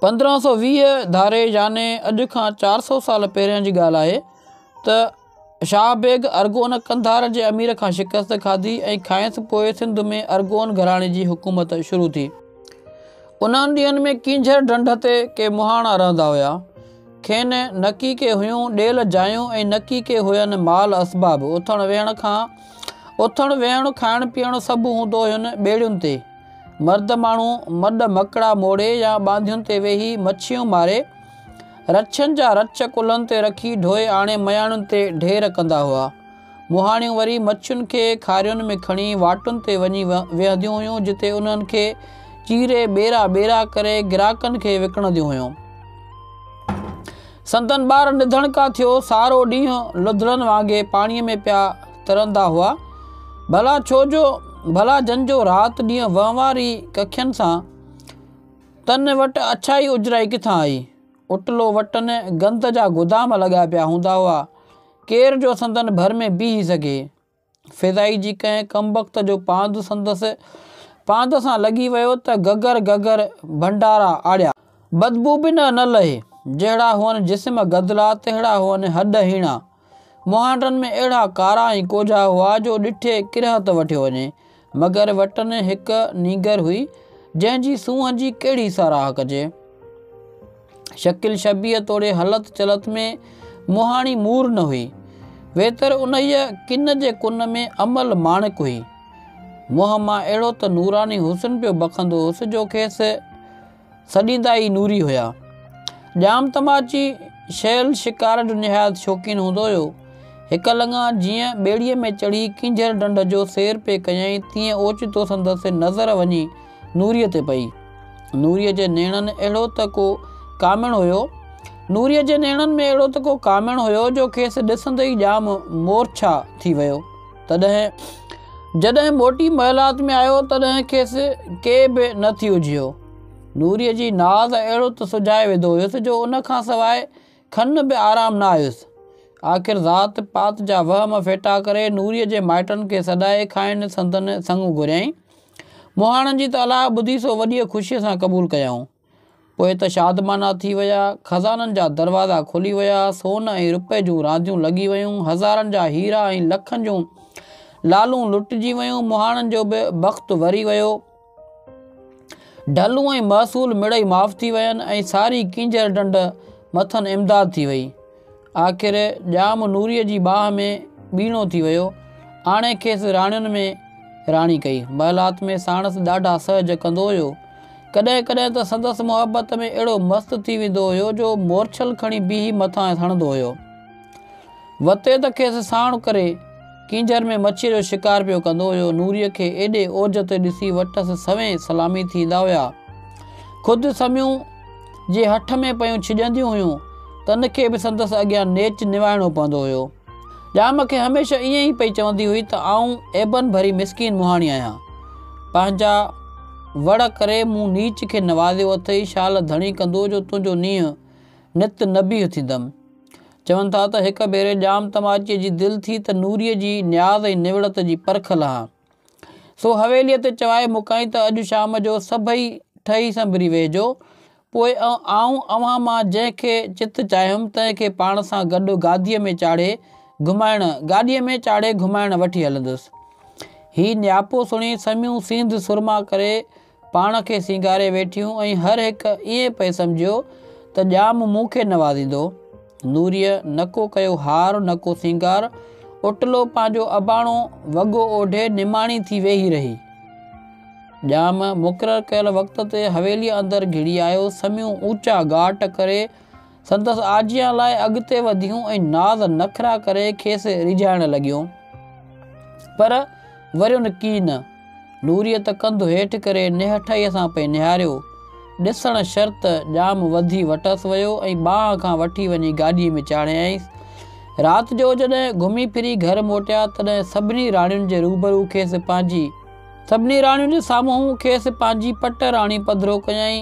پندرهن سؤ ويهه ڌاري يعني اڄ کان چار سؤ سال پهريان جي ڳالهه آهي ته شاهه بيگ ارغون قنڌار جي امير کان شڪست کاڌي ۽ کانئس پوء سنڌ ۾ ارغون گهراڻي جي حڪومت شروع ٿي. انهن ڏينهن ۾ ڪينجهر ڍنڍ تي ڪي مهاڻا رهندا هيا. کين نه ڪي ڪي هيون ڏيل جايون ۽ نه ڪي ڪي هين مال اسباب. اٿڻ ويهڻ کان اٿڻ ويهڻ کائڻ پيئڻ سڀ هوندو هين ٻيڙين تي. مرد ماڻهو مڏ مڪڙا موڙي يا ٻانڌين تي ويهي مڇيون ماري، رڇن جا رڇ ڪلهن تي رکي ڍوئي آڻي مياڻين تي ڍير ڪندا هئا. مهاڻيون وري مڇين کي کارين ۾ کڻي واٽن تي وڃي ويهنديون هيون جتي انهن کي چيري ٻيرا ٻيرا ڪري گراڪن کي وڪڻنديون هيون. سندن ٻار نڌڻڪا ٿيو سارو ڏينهن لڌڙن وانگي پاڻيء ۾ پيا ترندا هئا. ڀلا ڇو جو ڀلا جن جو رات ڏينهن وهنواري ڪکين سان تن وٽ اڇائي اجرائي ڪٿان آئي؟ اٽلو وٽن گند جا گدام لڳا پيا هوندا هئا. ڪير جو سندن ڀر ۾ بيهي سگهي؟ فيضائي جي ڪنهن ڪمبخت جو پاند سندس پاند سان لڳي ويو ته گگر گگر ڀنڊارا آڙيا. بدبو به نه نه لهي. جهڙا هئن جسم گدلا، تهڙا هئن هڏ هيڻا. مهانڊن ۾ اهڙا ڪارا ۽ ڪوجها هئا جو ڏٺي ڪرهت وٺيو وڃي. مگر وٽن هڪ نينگر هئي، جنهن جي سونهن جي ڪهڙي ساراهه ڪجي. شڪل شبيهه توڙي هلت چلت ۾ مهاڻي مور نه هئي، ويتر انهيء ڪن جي ڪن ۾ امل ماڻڪ هئي. منهن مان اهڙو ته نوراني حسن پيو بکندو هوس جو کيس سڏيندا ئي نوري هيا. ڄام تماچي شيل شڪار جو نهايت شوقين هوندو هيو. هڪ لڱا جيئن ٻيڙيء ۾ چڙهي ڪينجهر ڍنڍ جو سير پئي ڪيائين تيئن اوچتو سندس نظر وڃي نوريء تي پئي. نوريء جي نيڻن اهڙو ته ڪو ڪامڻ هيو نوريء جي نيڻن ۾ اهڙو ته ڪو ڪامڻ هيو جو کيس ڏسندي ئي ڄام مورڇا ٿي ويو. تڏهن جڏهن موٽي محلات ۾ آيو تڏهن کيس ڪي به نه ٿي اجهيو. نوريء جي ناز اهڙو ته سجهائي وڌو هيس جو ان کان سواء کن به آرام نه آيس. آخر ذات پات جا وهم ڦيٽا ڪري نوريء جي مائٽن کي سڏائي کانئن سندن سڱ گهريائين. مهاڻن جي ته الاهه ٻڌي سو وڏيء خوشيء سان قبول ڪيائون. پوء ته شادمانا ٿي ويا، خزانن جا دروازا کلي ويا، سون ۽ رپئي جون رانديون لڳي ويون، هزارن جا هيرا ۽ لکن جون لعلون لٽجي ويون، مهاڻن جو به بخت وري ويو. ڍلون ۽ محصول مڙئي معاف ٿي وين ۽ ساري ڪينجهر ڍنڍ مٿن امداد ٿي وئي. آخر ڄام نوريء جي باهه ۾ ٻيڻو ٿي ويو. آڻي کيس راڻين ۾ راڻي ڪئي. محلات ۾ ساڻس ڏاڍا سهج ڪندو هيو. ڪڏهن ڪڏهن ته سندس محبت ۾ اهڙو مست ٿي ويندو هيو جو مورڇل کڻي بيهي مٿانئس هڻندو هيو. وتي ته کيس ساڻ ڪري ڪينجهر ۾ مڇيء جو شڪار پيو ڪندو هيو. نوريء کي ايڏي اوج تي ڏسي وٽس سوين سلامي ٿيندا هيا. خود سميون جي هٺ ۾ پيون ڇڄنديون هيون، تن کي به سندس اڳيان نيچ نوائڻو پوندو هيو. ڄام کي هميشه ائين ئي پئي چوندي هئي ته آئون عيبن ڀري مسڪين مهاڻي آهيان. پنهنجا وڙ ڪري مون نيچ کي نوازيو اٿئي، شال ڌڻي ڪندو جو تنهنجو نينهن نت نبيهه ٿيندم. چون ٿا ته هڪ ڀيري ڄام تماچيء جي دل ٿي ته نوريء جي نياز ۽ نوڙت جي پرک لهان. سو حويليء تي چوائي موڪائين ته اڄ شام جو سڀئي ٺهي سنبري ويهجو. پوء آئون اوهان مان جنهن کي چت چاهيم تنهن کي پاڻ سان گڏ گاديء ۾ چاڙهي گهمائڻ گاڏيء ۾ چاڙهي گهمائڻ وٺي هلندس. هي نياپو سڻي سميون سينڌ سرما ڪري پاڻ کي سينگاري ويٺيون ۽ هر هڪ ائين پئي سمجهيو ته ڄام مون کي نوازيندو. نوريء نه ڪو ڪيو هار نه ڪو سينگار، اوٽلو پنهنجو اباڻو وڳو اوڍي نماڻي ٿي ويهي رهي. ڄام مقرر ڪيل وقت تي حويليء اندر گهڙي آيو، سميون اوچا گاٽ ڪري، سندس آجيان لاء اڳتي وڌيون ۽ ناز نخرا ڪري کيس ريجهائڻ لڳيون. پر وريون ڪي نه. نوريء ته ڪنڌ هيٺ ڪري نهٺائيء سان پئي نهاريو. ڏسڻ شرط ڄام وڌي وٽس ويو ۽ ٻانهن کان وٺي وڃي گاڏيء ۾ چاڙهيائينس. رات جو جڏهن گهمي ڦري گهر موٽيا تڏهن سڀني راڻين جي روبرو کيس پنهنجي. سڀني راڻين جي سامهون کيس پنهنجي پٽ راڻي پڌرو ڪيائين.